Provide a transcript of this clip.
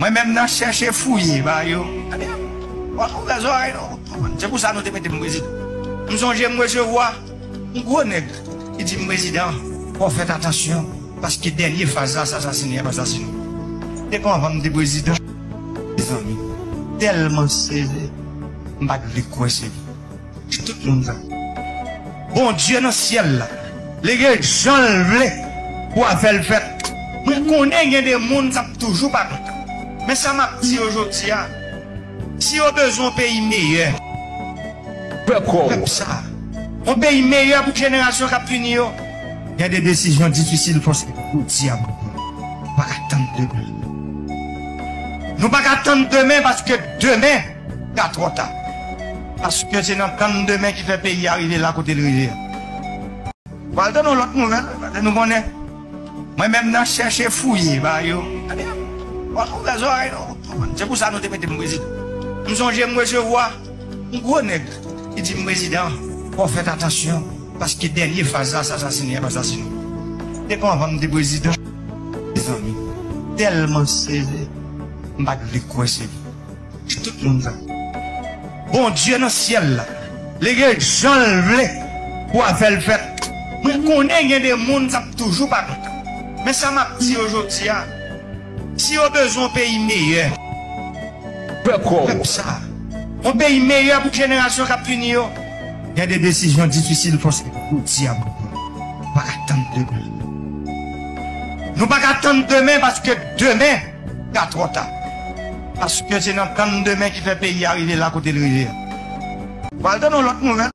Mwen menm nan chèche fouye ba yo. Ebyen, wap ouvè zòrèy nou pou konprann. Se pou sa nou te mete m prezidan. M sonje m resevwa yon gwo nèg ki di m prezidan, fò w fèt atansyon paske dènye faz la sasasine yap asasine w. M te pran van m te prezidan. Mezanmi, m tèlman sezi, m pat vle kwè se vre. Di tout moun sa. Bondye nan syèl la li gen janl vle pou afèl fèt mwen konnen gen de moun kap toujou pa kontan men sa map di yo jodia si yo bezwen yon peyi meyè pou pèp sa yon peyi meyè pou jenerasyon kap vini yo gen de desizyon difisil fòs jodia mwen di nou paka tann demen nou paka tann demen paske demen. ka twò ta. Paske se nan tann demen ki fè peyi a rive la kote l rive a. Pral tann yon lòt nouvèl paske nou konnen mwen menm nan chèche fouye ba yo. Ebyen, wap ouvè zòrèy nou wap konprann. Se pou sa nou te mete m prezidan. M sonje m resevwa yon gwo nèg ki di m prezidan fò fèt atansyon paske dènye faz la se asasine yap asasine w. Depi anvan m te prezidan mezanmi m tèlman sezi m pat vle kwè se li. Di tout moun sa. Bondye nan syèl la. Li gen janl vle pou afèl fèt. Mwen konnen gen de moun kap toujou pa kontan. Men sa map di yo jodia. Si yo bezwen yon peyi meyè pou pèp sa. Yon peyi meyè pou jenerasyon kap vini yo. Gen de desizyon difisil fò se jodia pou pran. Nou paka tann demen. Nou paka tann demen paske demen. ta twò ta. Paske se nan tann demen ki fè peyi a rive la kote l rive a. Ou pral tann yon lòt nouvèl.